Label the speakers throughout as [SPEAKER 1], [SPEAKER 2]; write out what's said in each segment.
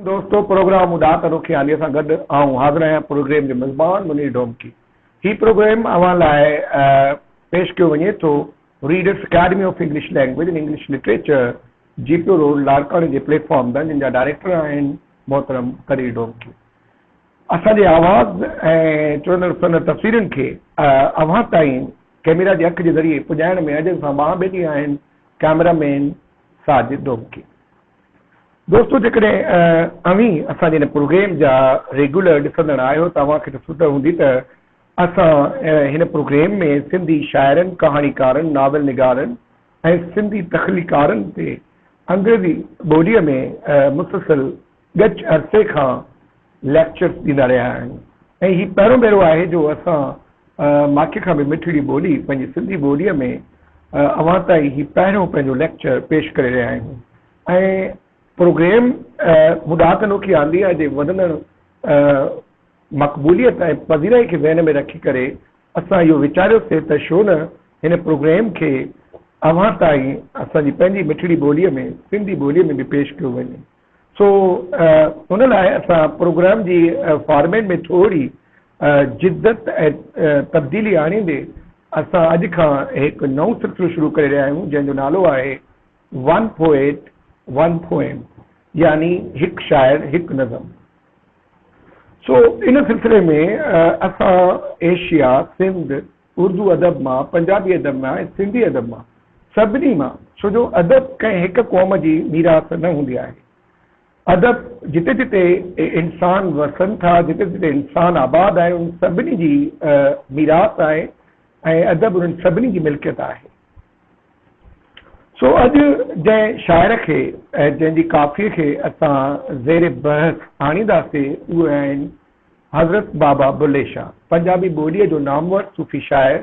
[SPEAKER 1] دوستو پروگرام اڏا ته رخياني سان گڏ آئون حاضر آهيان پروگريم جو مزبان منير ڊومڪي هي پروگريم اوهان لاء پيش ڪيو وڃي ٿو readers academy of English language and English literature جي پيو روڊ لاڙڪاڻي جي پليٽ فارم تان جن جا ڊائريڪٽر آهن محترم قدير ڊومڪي اسان جي آواز ۽ چڙندڙ سندر تصويرن کي اوهان تائين ڪيميرا جي اک جي ذريعي پڄائڻ ۾ اجهن سان ٻانهن ٻيلي آهن ڪيمرا مين ساجد ڊومڪي. دوستو جيڪڏهن اوهين اسان جي هن پروگريم جا ريگيولر ڏسندڙ آهيو ته اوهان کي ته سڌ هوندي ته اسان هن پروگريم ۾ سنڌي شاعرن، ڪهاڻيڪارن، ناول نگارن ۽ سنڌي تخليقارن تي انگريزي ٻوليء ۾ مسلسل ڳچ عرصي کان ليڪچرز ڏيندا رهيا آهيون ۽ هي پهريون ڀيرو آهي جو اسان ماکي کان به مٺڙي ٻولي پنهنجي سنڌي ٻوليء ۾ اوهان تائين هي پهريون پنهنجو ليڪچر پيش ڪري رهيا آهيون ۽ پروگريم مون ڏاهه تنوڪي آنديه جي وڌندڙ مقبوليت ۽ پذيرائي کي ذهن ۾ رکي ڪري اسان اهو ويچاريو سي ته شو نه هن پروگريم کي اوهان تائين اسان جي پنهنجي مٺڙي ٻوليء ۾ سنڌي ٻوليء ۾ به پيش ڪيو وڃي. سو ان لاء اسان پروگرام جي فارميٽ ۾ ٿوري جدت ۽ تبديلي آڻيندي اسان اڄ کان هڪ نئون سلسلو شروع ڪري رهيا آهيون جنهن جو نالو آهي ون پوئيٽ ون پوئم يعني هڪ شاعر هڪ نظم. سو ان سلسلي ۾ اسان ايشيا، سنڌ، اردو ادب مان، پنجابي ادب مان ۽ سنڌي ادب مان، سڀني مان، ڇو جو ادب ڪنهن هڪ قوم جي ميراث نه هوندي آهي. ادب جتي جتي انسان وسن ٿا، جتي جتي انسان آباد آهي، انهن سڀني جي ميراث آهي ۽ ادب انهن سڀني جي ملڪيت آهي. سو اڄ جنهن شاعر کي ۽ جنهن جي ڪافيء کي اسان زير بحث آڻينداسين، اهي آهن. حضرت بابا بلي شاهه پنجابي ٻوليء جو نامور صوفي شاعر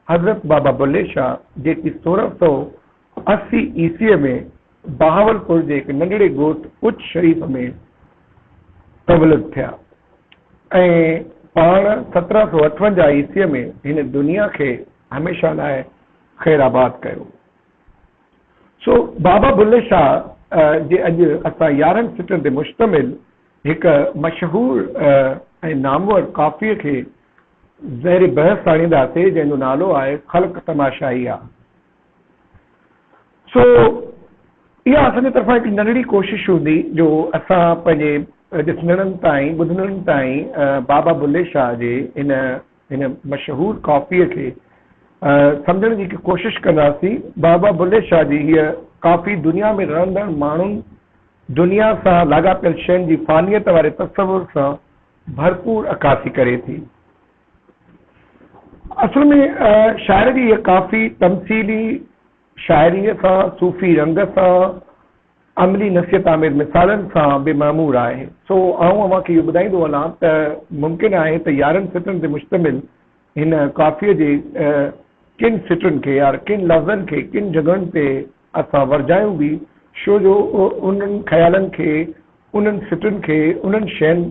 [SPEAKER 1] حضرت بابا بلي شاهه جيڪي سورهن سؤ اسي عيسويء ۾ بهاولپور جي هڪ ننڍڙي ڳوٺ اچ شريف ۾ تولد ٿيا ۽ پاڻ سترهن سؤ اٺونجاهه عيسويء ۾ هن دنيا کي هميشه لاء خيرآباد ڪيو. سو بابا بلي شاهه جي اڄ اسان يارهن سٽن تي مشتمل هڪ مشهور ۽ نامور ڪافيء کي زهر بحث آڻينداسي، جنهن جو نالو آهي خلق تماشائي آ. سو اها اسان جي طرفان هڪ ننڍڙي ڪوشش هوندي جو اسان پنهنجي ڏسندڙن تائين، ٻڌندڙن تائين بابا بلهي شاهه جي هن هن مشهور ڪافيء کي سمجهڻ جي هڪ ڪوشش ڪنداسين. بابا بلهي شاهه جي هيء ڪافي دنيا ۾ رهندڙ ماڻهن دنيا سان لاڳاپيل شين جي فانيت واري تصور سان ڀرپور عڪاسي ڪري ٿي. اصل ۾ شاعر جي هيء ڪافي تمثيلي شاعريء سان، صوفي رنگ سان، عملي نصيحت آميز مثالن سان به معمور آهي. سو آئون اوهان کي اهو ٻڌائيندو هلان ته ممڪن آهي ته يارهن سٽن تي مشتمل هن ڪافيء جي ڪن سٽن کي يا ڪن لفظن کي ڪن جڳهن تي اسان ورجايون به شو جو انهن خيالن کي، انهن سٽن کي، انهن شين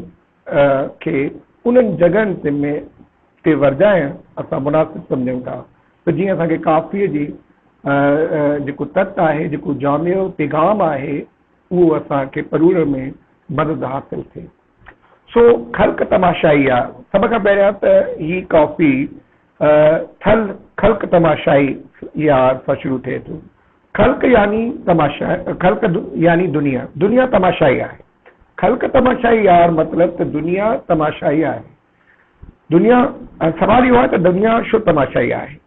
[SPEAKER 1] کي انهن جڳهن تي ورجائڻ اسان مناسب سمجهون ٿا ته جيئن اسان کي ڪافيء جي جيڪو تت آهي، جيڪو جامع پيغام آهي اهو اسان کي پروڙڻ ۾ مدد حاصل ٿئي. سو خلق تماشائي آ. سڀ کان پهريان ته هي ڪافي. ٿل، خلق تماشائي يا سان شروع ٿئي ٿو. خلق يعني تماشا، خلق يعني دنيا، دنيا تماشائي آهي. خلق تماشائي يا مطلب ته دنيا تماشائي آهي. دنيا، سوال اهو آهي ته دنيا شو تماشائي آهي؟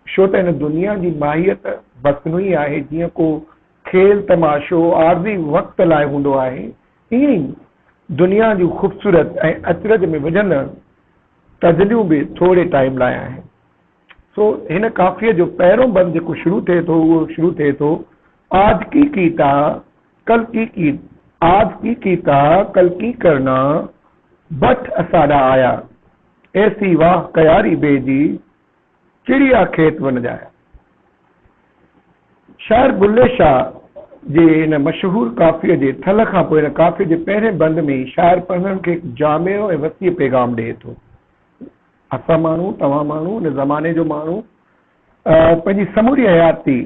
[SPEAKER 1] شو ته ان دنيا جي ماهيت مصنوعي آهي، جيئن ڪو کيل تماشو عارضي وقت لاء هوندو آهي، ائين ئي دنيا جون خوبصورت ۽ اچرج ۾ وجهندڙ غزليون به ٿوري ٽائيم لاء آهن. سو هن ڪافيء جو پهريون بند جيڪو شروع ٿئي ٿو اهو شروع ٿئي ٿو، آج ڪي ڪيتا ڪل ڪي ڪي آج ڪي ڪيتا ڪل ڪي ڪرنا بٺ اساڏا آيا ايسي واهه ڪياري بي جي چڙيا کيت ون ڄايا. شاعر بلي شاهه جي ان مشهور ڪافيء جي ٿل کان پوء ان ڪافيء جي پهرين بند ۾ ئي شاعر پڙهندڙن کي هڪ جامع ۽ وسيع پيغام ڏئي ٿو. اسان ماڻهو، توهان ماڻهو، ان زماني جو ماڻهو پنهنجي سموري حياتي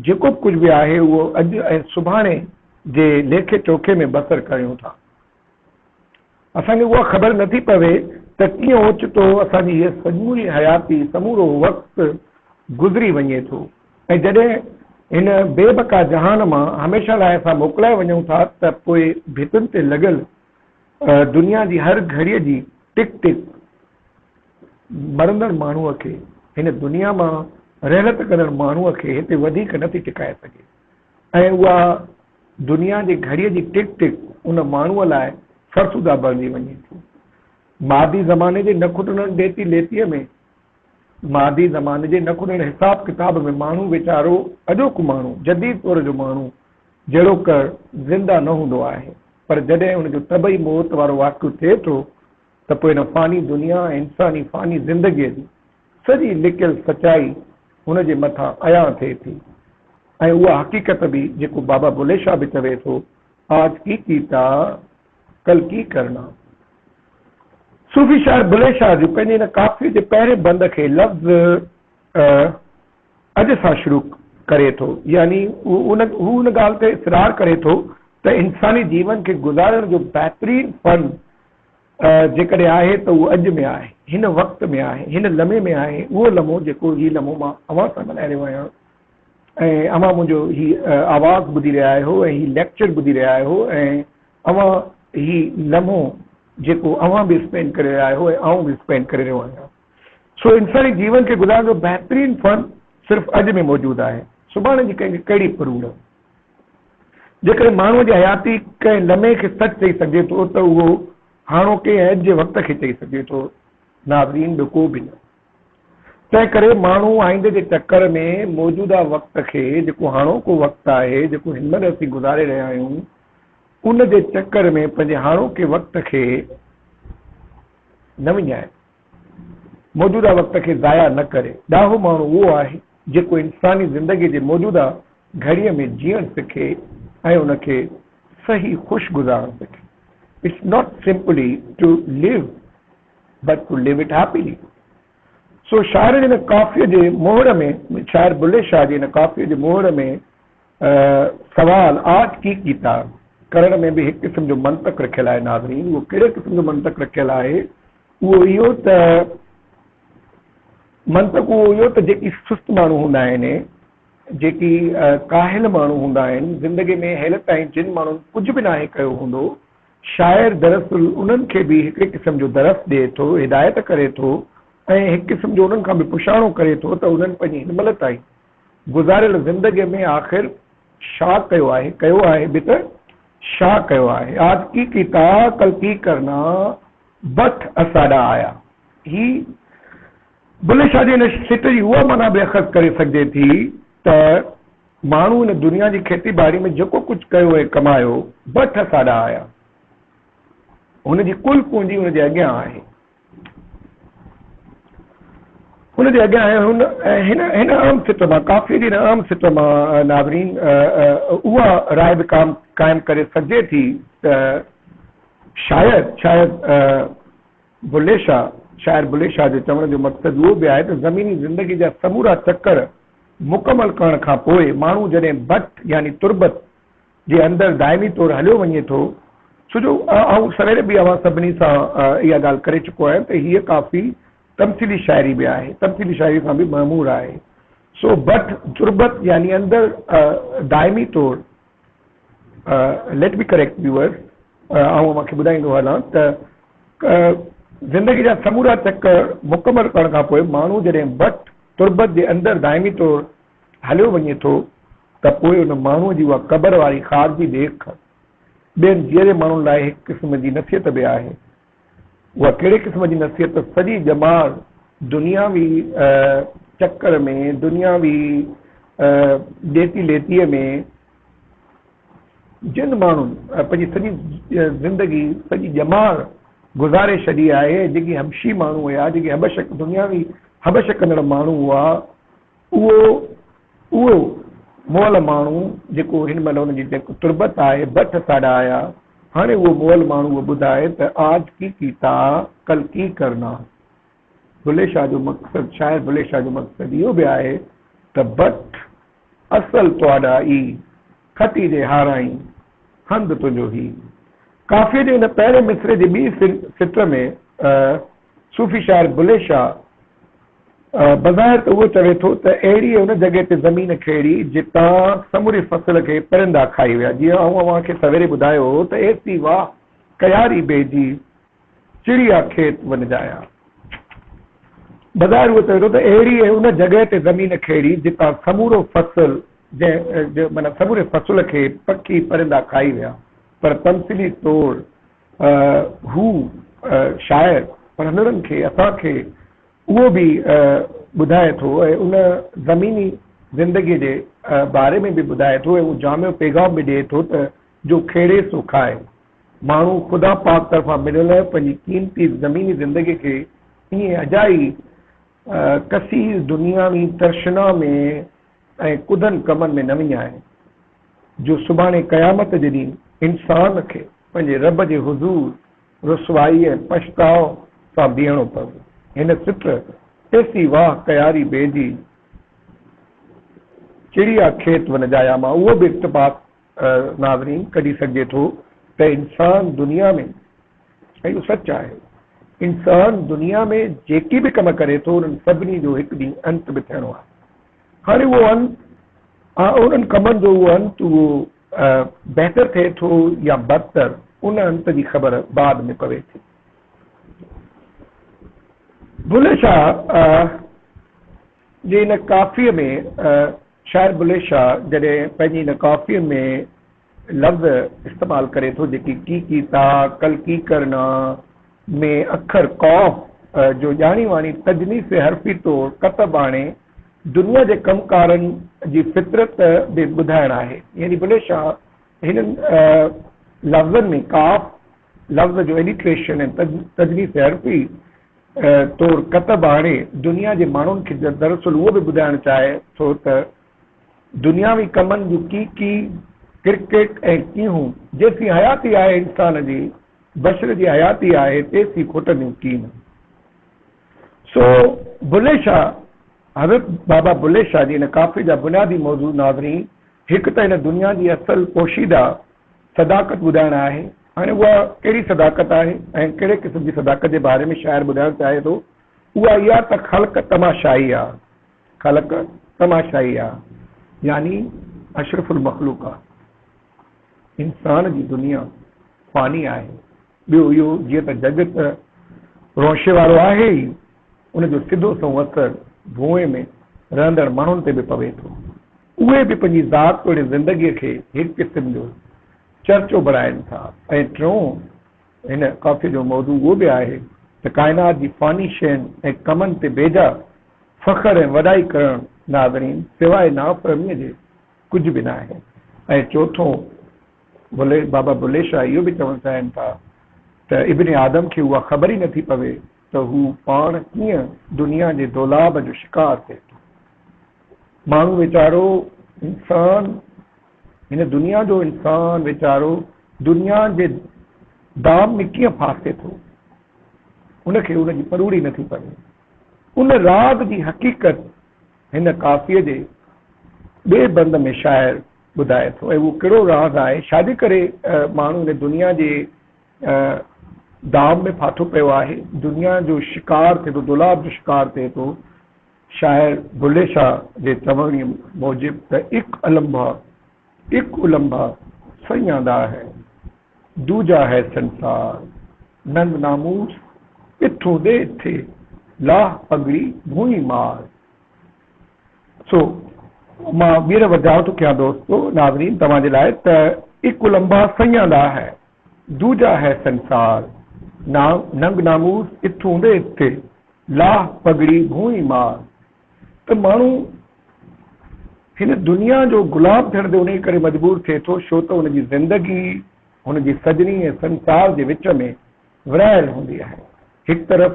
[SPEAKER 1] جيڪو به ڪجهه به آهي اهو اڄ ۽ سڀاڻي جي ليکي چوکي ۾ بسر ڪريون ٿا. اسان کي اها خبر نٿي پوي ته ڪيئن اوچتو اسان جي هيء سموري حياتي، سمورو وقت گذري وڃي ٿو ۽ جڏهن هن بي بقا جهان مان هميشه لاء اسان موڪلائي وڃون ٿا ته پوء ڀتين تي لڳل دنيا جي هر گهڙيء جي ٽڪ ٽڪ مرندڙ ماڻهوء کي، هن دنيا مان رحلت ڪندڙ ماڻهوء کي هتي وڌيڪ نٿي ٽڪائي سگهي. ۽ اها دنيا جي گهڙيء جي ٽڪ ٽڪ ان ماڻهوء لاء فرسوده بڻجي وڃي ٿي. مادي زماني جي نه کٽڻ ڏيتي ليتيء ۾، مادي زماني جي نه کٽڻ حساب ڪتاب ۾ ماڻهو ويچارو، اڄوڪو ماڻهو، جديد دور جو ماڻهو جهڙوڪر زنده نه هوندو آهي، پر جڏهن ان جو طبعي موت وارو واقعو ٿئي ٿو ته پوء ان فاني دنيا ۽ انساني فاني زندگيء جي سڄي لڪيل سچائي هن جي مٿان عيان ٿئي ٿي ۽ اها حقيقت به جيڪو بابا بلهي شاهه به چوي ٿو، آج ڪي ڪيتا، ڪل ڪي ڪرنا. صوفي شاعر بلهي شاهه جون پنهنجي هن ڪافيء جي پهرين بند کي لفظ اڄ سان شروع ڪري ٿو، يعني هو ان ڳالهه تي اصرار ڪري ٿو ته انساني جيون کي گذارڻ جو بهترين فن، جيڪڏهن آهي ته اهو اڄ ۾ آهي، هن وقت ۾ آهي، هن لمحي ۾ آهي، اهو لمحو جيڪو هي لمحو مان اوهان سان ڳالهائي رهيو آهيان ۽ اوهان منهنجو هي آواز ٻڌي رهيا آهيو ۽ هي ليڪچر ٻڌي رهيا آهيو ۽ اوهان هي لمحو جيڪو اوهان به اسپينڊ ڪري رهيا آهيو ۽ آئون به اسپينڊ ڪري رهيو آهيان سو انساني جيون کي گذارڻ جو بهترين فن صرف اڄ ۾ موجود آهي سڀاڻي جي ڪنهن کي ڪهڙي پروڙ. جيڪڏهن ماڻهوء جي حياتي ڪنهن لمحي کي سچ چئي سگهجي ٿو ته اهو هاڻوڪي ۽ اڄ جي وقت کي چئي سگهجي ٿو. ناظرين! ٻيو ڪو به نه. تنهن ڪري ماڻهو آئيندي جي چڪر ۾ موجوده وقت کي، جيڪو هاڻوڪو وقت آهي، جيڪو هن مهل اسين گذاري رهيا آهيون، ان جي چڪر ۾ پنهنجي هاڻوڪي وقت کي نه وڃائي. موجوده وقت کي ضايع نه ڪري. ڏاهو ماڻهو اهو آهي، جيڪو انساني زندگيء جي موجوده گهڙيء ۾ جيئڻ سکي ۽ ان کي صحيح خوش گذارڻ سکي. It's not simply to live but to live it happily. سو شاعرڻ ان ڪافيء جي مهڙ ۾، شاعر بلهه شاهه جي ان ڪافيء جي مهڙ ۾، سوال، آرٽ ڪي ڪيتا ڪرڻ ۾ به هڪ قسم جو منطق رکيل آهي ناظرين اهو ڪهڙي قسم جو منطق رکيل آهي اهو اهو ته منطق اهو اهو ته جيڪي سست ماڻهو هوندا آهن جيڪي ڪاهل ماڻهو هوندا آهن زندگي ۾ هيل تائين جن ماڻهن ڪجهه به ناهي ڪيو هوندو شاعر دراصل انهن کي به هڪڙي قسم جو درس ڏئي ٿو هدايت ڪري ٿو ۽ هڪ قسم جو انهن کان به پڇاڻو ڪري ٿو ته انهن پنهنجي هن مهل تائين گذاريل زندگيء ۾ آخر شا ڪيو آهي، ڪيو آهي به ته شا ڪيو آهي. آج ڪي ڪي تا ڪل ڪي ڪرنا، بٺ اساڏا آيا. هي بلهه شاهه جي هن سٽ جي اها معنيٰ به اخذ ڪري سگهجي ٿي ته ماڻهو هن دنيا جي کيتي ٻاڙي ۾ جيڪو ڪجهه ڪيو ۽ ڪمايو، بٺ اساڏا آيا. هن جي ڪل پونجي هن جي اڳيان آهي. ان جي اڳيان ۽ هن هن هن عام سٽ مان ڪافيء جي هن عام سٽ مان ناظرين اها راء به قائم ڪري سگهجي ٿي ته شايد شايد بلهي شاهه شاعر بلهي شاهه جو چوڻ جو مقصد اهو به آهي ته زميني زندگيء جا سمورا چڪر مڪمل ڪرڻ کان پوء ماڻهو جڏهن بٽ يعني تربت جي اندر دائمي طور هليو وڃي ٿو ڇو جو آئون سوير به اوهان سڀني سان اها ڳالهه ڪري چڪو آهيان ته هيء ڪافي تمثيلي شاعري به آهي، تمثيلي شاعري سان به معمور آهي. سو بٺ تربت يعني اندر دائمي طور Let me correct viewers آئون اوهان کي ٻڌائيندو هلان ته زندگي جا سمورا چڪر مڪمل ڪرڻ کان پوء ماڻهو جڏهن بٺ تربت جي اندر دائمي طور هليو وڃي ٿو ته پوء ان ماڻهوء جي اها قبر واري خارجي ڏيک ٻين جيئري ماڻهن لاء هڪ قسم جي نصيحت به آهي. اها ڪهڙي قسم جي نصيحت ته سڄي ڄمار دنياوي چڪر ۾، دنياوي ڏيتي ليتيء ۾، جن ماڻهن پنهنجي سڄي زندگي، سڄي ڄمار گذاري ڇڏي آهي، جيڪي حبشي ماڻهو هيا، جيڪي حبشڪ، دنياوي حبشڪندڙ ماڻهو هئا، اهو اهو مئل ماڻهو جيڪو هن مهل ان جي جيڪو تربت آهي بٺ ساڍا آيا هاڻي اهو مئل ماڻهو اهو ٻڌائي ته آج ڪي ڪيتا ڪل ڪي ڪرنا بلي شاهه جو مقصد شاعر بلي شاهه جو مقصد اهو به آهي ته بٺ اصل تهاڏا ئي کٽي جي هارائين هنڌ تنهنجو هي. قافيي جي هن پهرين مصرعي جي ٻي سٽر ۾ صوفي شاعر بلي شاهه بظاهر ته اهو چوي ٿو ته اهڙيء ان جڳهه تي زمين کيڙي جتان سموري فصل کي پرندا کائي ويا. جيئن آئون اوهان کي سويري ٻڌايو هو ته ايسي واهه ڪياري بيجي چڙيا کيت ون جايا. بظاهر اهو چوي ٿو ته اهڙيء ان جڳهه تي زمين کيڙي جتان سمورو فصل جنهن معنيٰ سموري فصل کي پکي پرندا کائي ويا پر تمثيلي طور هو شاعر پڙهندڙن کي اسان کي اهو به ٻڌائي ٿو ۽ ان زميني زندگيء جي باري ۾ به ٻڌائي ٿو ۽ اهو جامع پيغام به ڏئي ٿو ته جو کيڙي سو کائي. ماڻهو خدا پاڪ طرفان مليل پنهنجي قيمتي زميني زندگيء کي ائين اجائي ڪثير دنياوي ترشنا ۾ ۽ ڪڌن ڪمن ۾ نه وڃائين، جو سڀاڻي قيامت جي ڏينهن انسان کي پنهنجي رب جي حضور رسوائي ۽ پڇتاء سان بيهڻو پوي. هن سٽ ايسي واهه ڪياري بيجي چڙيا کيت ونجايا مان اهو به اقتباس ناظرين ڪڍي سگهجي ٿو ته انسان دنيا ۾ ۽ اهو سچ آهي انسان دنيا ۾ جيڪي به ڪم ڪري ٿو انهن سڀني جو هڪ ڏينهن انت به ٿيڻو آهي هاڻي اهو انت انهن ڪمن جو اهو انت اهو بهتر ٿئي ٿو يا بدتر ان انت جي خبر بعد ۾ پوي ٿي بلهه شاهه جي ان ڪافيء ۾ شاعر بلي شاهه جڏهن پنهنجي هن ڪافيء ۾ لفظ استعمال ڪري ٿو جيڪي ڪي ڪي تا ڪل ڪي ڪر نا ۾ اکر قاف جو ڄاڻي واڻي تجنيس حرفي طور ڪتب آڻي دنيا جي ڪم ڪارن جي فطرت به ٻڌائڻ آهي يعني بلي شاهه هنن لفظن ۾ قاف لفظ جو اليٽريشن ۽ تجويز تي حرفي طور ڪتب آڻي دنيا جي ماڻهن کي دراصل اهو به ٻڌائڻ چاهي ٿو ته دنياوي ڪمن جون ڪي ڪي ڪرڪيٽ ۽ ڪيهون جيسين حياتي آهي انسان جي بشر جي حياتي آهي تيسين کوٽنديون ڪين سو بلي شاهه حضرت بابا بلي شاهه جي ان ڪافي جا بنيادي موضوع ناظرين هڪ ته هن دنيا جي اصل پوشيده صداقت ٻڌائڻ آهي. هاڻي اها ڪهڙي صداقت آهي ۽ ڪهڙي قسم جي صداقت جي باري ۾ شاعر ٻڌائڻ چاهي ٿو، اها اها ته خلق تماشائي آ. خلق تماشائي آ يعني اشرف المخلوق آ. انسان جي دنيا فاني آهي. ٻيو اهو جيئن ته جڳ ته رونشي وارو آهي ئي، ان جو سڌو سنئون اثر ڀونء ۾ رهندڙ ماڻهن تي به پوي ٿو. اهي به پنهنجي ذات توڙي زندگيء کي هڪ قسم جو چرچو بڻائين ٿا ۽ ٽيون هن ڪافيء جو موضوع اهو به آهي ته ڪائنات جي فاني شين ۽ ڪمن تي بيجا فخر ۽ وڏائي ڪرڻ ناظرين سواء نافهميء جي ڪجهه به ناهي ۽ چوٿون بابا بلي شاهه اهو به چوڻ چاهين ٿا ته ابن آدم کي اها خبر ئي نٿي پوي ته هو پاڻ ڪيئن دنيا جي دولاب جو شڪار ٿئي ٿو. ماڻهو ويچارو انسان هن دنيا جو انسان ويچارو دنيا جي دام ۾ ڪيئن ڦاسي ٿو. ان کي ان جي پروڙي نٿي پوي. ان راز جي حقيقت هن ڪافيء جي ٻئي بند ۾ شاعر ٻڌائي ٿو ۽ اهو ڪهڙو راز آهي ڇا جي ڪري ماڻهو هن دنيا جي ۽ دام ۾ ڦاٿو پيو آهي، دنيا جو شڪار ٿئي ٿو، دولاب جو شڪار ٿئي ٿو. شاعر بلهي شاهه جي چوڻي موجب ته اک النبا، اک النبا سئي آندا هي، دوجا هي سنسار، ننگ ناموس اٿون ڏي اٿي، لاهه پڳڙي ڀونئي مار. سو مان ٻيهر ورجاء ٿو ڪيان دوستو، ناظرين توهان جي لاء ته اک النبا سئي آندا هي. دوجا هي سنسار، ننگ ناموس اتون ڏي اتي، لاهه پڳڙي ڀونئي مار. ته ماڻهو هن دنيا جو غلام ٿيڻ تي انهيء ڪري مجبور ٿئي ٿو ڇو ته هن جي زندگي هن جي سڄڻي ۽ سنسار جي وچ ۾ ورهايل هوندي آهي. هڪ طرف.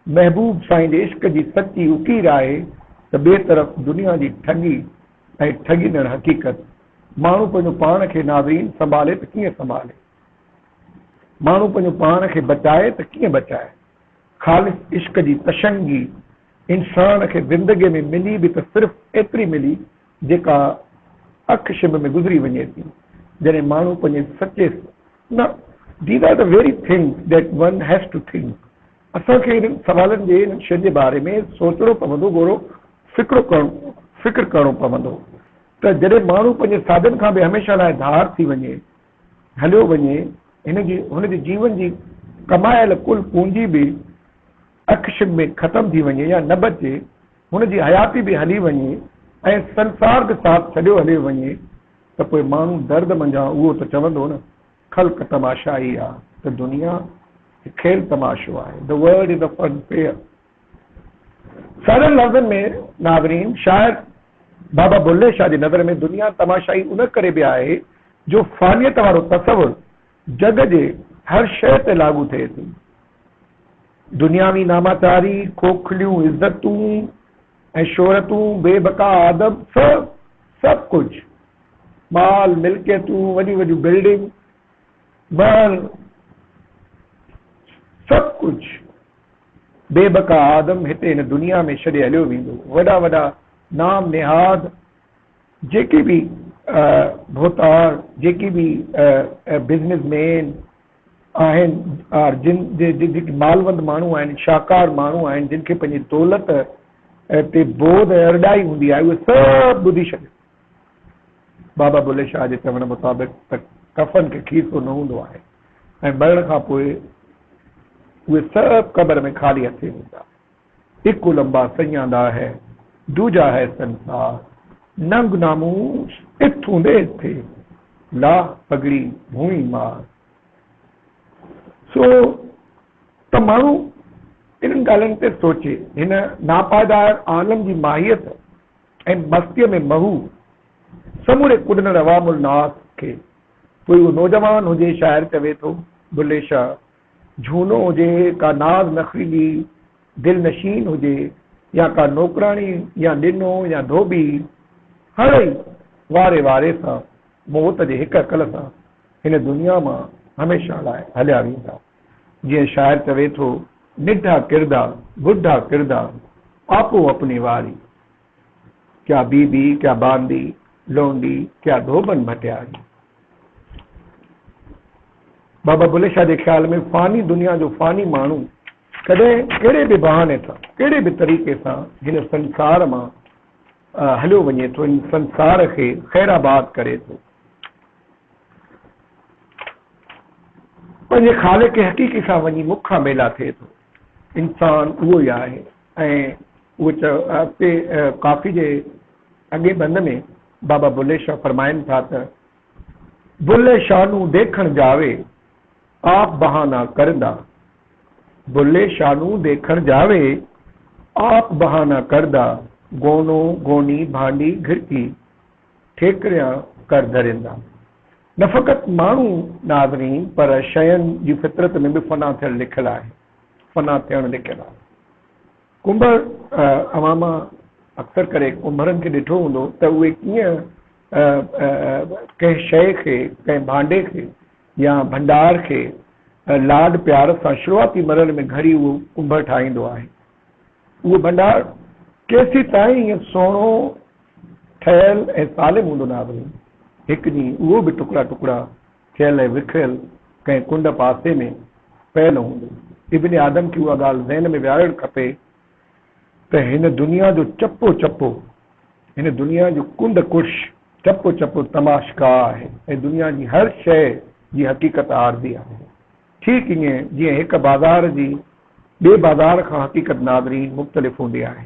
[SPEAKER 1] محبوب سائين جي عشق جي سچي اڪير آهي ته ٻئي طرف دنيا جي ٺڳي ۽ ٺڳيندڙ حقيقت. ماڻهو پنهنجو پاڻ کي ناظرين سنڀالي ته ڪيئن سنڀالي؟ ماڻهو پنهنجو پاڻ کي بچائي ته ڪيئن بچائي؟ خالص عشق جي تشنگي انسان کي زندگي ۾ ملي به ته صرف ايتري ملي جيڪا اک شنب ۾ گذري وڃي ٿي جڏهن ماڻهو پنهنجي سچي نه These are the very things that one has to think. اسان کي انهن سوالن جي انهن شين جي باري ۾ سوچڻو پوندو گهرو فڪرو ڪرڻو فڪر ڪرڻو پوندو ته جڏهن ماڻهو پنهنجي ساڌن کان به هميشه لاء ڌار ٿي وڃي هليو وڃي هن جي هن جي جيون جي ڪمايل ڪل پونجي به اک شب ۾ ختم ٿي وڃي يا نه بچي هن جي حياتي به هلي وڃي ۽ سنسار به ساٿ ڇڏيو هليو وڃي ته پوء ماڻهو درد منجهان اهو ته چوندو نه خلق تماشائي آ ته دنيا هڪ کيل تماشو آهي The world is a fun fair سادن لفظن ۾ ناظرين شاعر بابا بلهه شاهه جي نظر ۾ دنيا تماشائي ان ڪري به آهي جو فانيت وارو تصور جڳ جي هر شيء تي لاڳو ٿئي ٿي دنياوي ناماچاري، کوکليون عزتون، ۽ شهرتون، بي بقا آدم، سڀ سڀ ڪجهه، مال، ملڪيتون، وڏيون وڏيون بلڊنگ، مهل، سڀ ڪجهه، بي بقا آدم، هتي هن دنيا ۾ ڇڏي هليو ويندو. وڏا وڏا نام نهاد، جيڪي به ڀوتار، جيڪي به بزنس مين، آهن ۽ جن جيڪي مالوند ماڻهو آهن، شاهڪار ماڻهو آهن، جن کي پنهنجي دولت تي بوڌ ۽ ارڏائي هوندي آهي، اهي سڀ ٻڌي ڇڏيو. بابا بلهي شاهه جي چوڻ مطابق ته ڪفن کي کيسو نه هوندو آهي ۽ مرڻ کان پوء اهي سڀ قبر ۾ خالي هٿين ايندا آهن. اڪو لمبا سڃان دا هي، ڊوجا هي سنسار، ننگ ناموس اٿون دي ٿي، لا پڳڙي ڀونئي مار. سو ته ماڻهو انهن ڳالهين تي سوچي، هن ناپائدار عالم جي ماهيت ۽ مستيء ۾ مهو سموري ڪڏندڙ عوام الناس کي پوء اهو نوجوان هجي شاعر چوي ٿو، بلي شاهه جھونو هجي، ڪا ناز نخريلي دل نشين هجي يا ڪا نوڪراڻي يا ڏنو يا ڌوٻي، هر ئي واري واري سان موت جي هڪ هڪل سان هن دنيا مان هميشه لاء هليا ويندا. جيئن شاعر چوي ٿو، نڍا ڪردا، بڍا ڪردا، آپو اپني واري، ڪيا بي بي، ڪيا بانڊي، لونڊي، ڪيا ڌوٻن ڀٽياري. بابا بلهه شاهه جي خيال ۾ فاني دنيا جو فاني ماڻهو ڪڏهن ڪهڙي به بهاني سان، ڪهڙي به طريقي سان هن سنسار مان هليو وڃي ٿو، هن سنسار کي خير آباد ڪري ٿو. پنهنجي خالق حقيقي سان وڃي مک کان ميلا ٿئي ٿو. انسان اهو ئي آهي ۽ اهو چئي اڳتي ڪافي جي اڳئين بند ۾ بابا بلهي شاهه فرمائن ٿا ته. بلهي شاهه نون ديکڻ جاوي، آپ بهانا ڪردا. بلهي شاهه نون ديکڻ جاوي، آپ بهانا ڪردا. گونو گوني ڀانڊي گهرڪي، ٺيڪريان ڪر ڌريندا. نه فقط ماڻهو ناظرين پر شين جي فطرت ۾ به فنا ٿيڻ لکيل آهي. فنا ٿيڻ لکيل آهي. ڪنڀر، اوهان مان اڪثر ڪري ڪنڀرن کي ڏٺو هوندو ته اهي ڪيئن ڪنهن شيء کي، ڪنهن ڀانڊي کي يا ڀنڊار کي لاڏ پيار سان شروعاتي مرحلي ۾ گهڙي اهو ڪنڀر ٺاهيندو آهي. اهو ڀنڊار ڪيسيتائين ائين سهڻو ٺهيل ۽ سالم هوندو ناهي. هڪ ڏينهن اهو به ٽڪڙا ٽڪڙا. ٿيل ۽ وکريل ڪنهن ڪنڊ پاسي ۾ پيل هوندو. ابن آدم کي اها ڳالهه ذهن ۾ ويهارڻ کپي ته هن دنيا جو چپو چپو، هن دنيا جو ڪنڊ ڪڙش چپو چپو تماشڪا آهي ۽ دنيا جي هر شيء جي حقيقت عارضي آهي. ٺيڪ ايئن جيئن هڪ بازار جي ٻئي بازار کان حقيقت ناظرين مختلف هوندي آهي.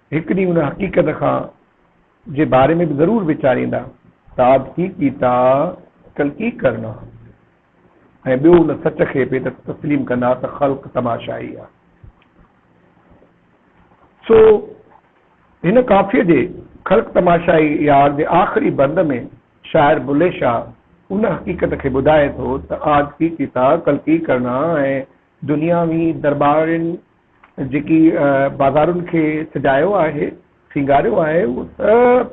[SPEAKER 1] هڪ ڏينهن ان حقيقت کان جي باري ۾ به ضرور ويچاريندا تاد ڪي ڪيتا ڪل ڪي ڪرنا ۽ ٻيو ان سچ کي به ته تسليم ڪندا ته خلق تماشائي آ. سو هن ڪافيء جي خلق تماشائي يار جي آخري بند ۾ شاعر بلهي شاهه ان حقيقت کي ٻڌائي ٿو ته آج ڪي ڪيتا ڪل ڪي ڪرنا ۽ دنياوي درٻارين جيڪي بازارن کي سجايو آهي، سينگاريو آهي، اهو سڀ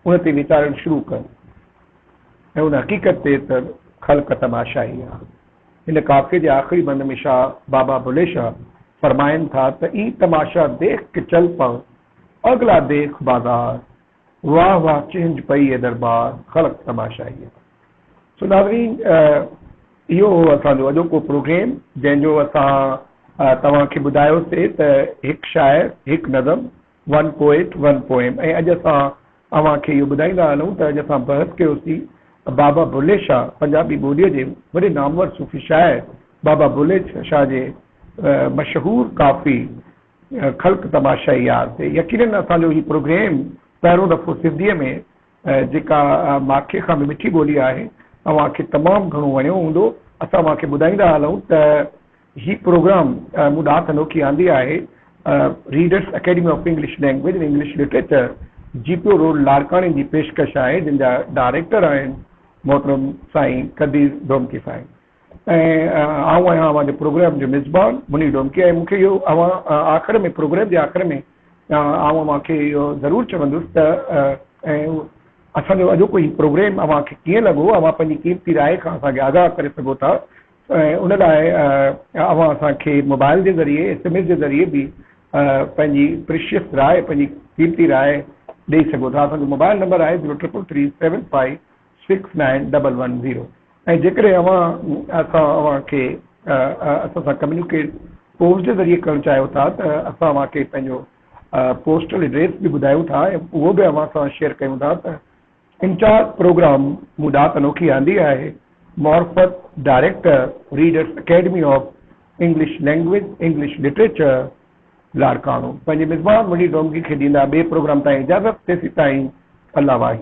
[SPEAKER 1] ان تي ويچارڻ شروع ڪن ۽ ان حقيقت تي ته خلق تماشائي آ. هن قافيي جي آخري بند ۾ شاهه بابا بلهي شاهه فرمائن ٿا ته اي تماشا ديخ ڪه چل پئو، اگلا ديخ بازار. واھ واھ چهنج پئي اي دربار خلق تماشائيء. سو ناظرين اهو هو اسان جو اڄوڪو پروگريم جنهن جو اسان توهان کي ٻڌايو سي ته هڪ شاعر هڪ نظم One Poet One Poem ۽ اڄ اسان اوهان کي اهو ٻڌائيندا هلون ته اڄ اسان بحث ڪيو سي بابا بلهي شاھ پنجابي ٻوليء جي وڏي نامور صوفي شاعر بابا بلهي شاھ جي مشهور ڪافي خلق تماشائي يار تي يقينن اسان جو هي پروگريم پهريون دفعو سنڌيء ۾ جيڪا ماکي کان به مٺي ٻولي آهي اوهان کي تمام گهڻو وڻيو هوندو اسان اوهان کي ٻڌائيندا هلون ته هي پروگرام مون ڏات انوکي آندي آهي readers academy of English language and English literature جي پي او روڊ لاڙڪاڻي جي پيشڪش آهي جن جا ڊائريڪٽر آهن محترم سائين قدير ڌومڪي سائين ۽ آئون آهيان اوهان جي پروگرام جو ميزبان منير ڊومڪي ۽ مون کي اهو اوهان آخر ۾ پروگرام جي آخر ۾ آئون اوهان کي اهو ضرور چوندس ته ۽ اسان جو اڄوڪو هي پروگرام اوهان کي ڪيئن لڳو اوهان پنهنجي قيمتي راء کان اسان کي آگاهه ڪري سگهو ٿا ۽ ان لاء اوهان اسان کي موبائل جي ذريعي ايس ايم ايس جي ذريعي به پنهنجي پريشيس راء پنهنجي قيمتي راء ڏئي سگهو ٿا اسان جو موبائل نمبر آهي zero triple three seven five six nine double one zero ۽ جيڪڏهن اوهان اسان اوهان کي اسان سان ڪميونيڪيٽ پوسٽ جي ذريعي ڪرڻ چاهيو ٿا ته اسان اوهان کي پنهنجو پوسٽل ايڊريس به ٻڌايون ٿا ۽ اهو به اوهان سان شيئر ڪيون ٿا ته انچارج پروگرام مون ڏات انوکي آندي آهي معرفت director readers academy of English language English literature Larkana پنهنجي مزمان منڊي ڊومگي کي ڏيندا ٻئي پروگرام تائين اجازت تيسيتائين الله واهي.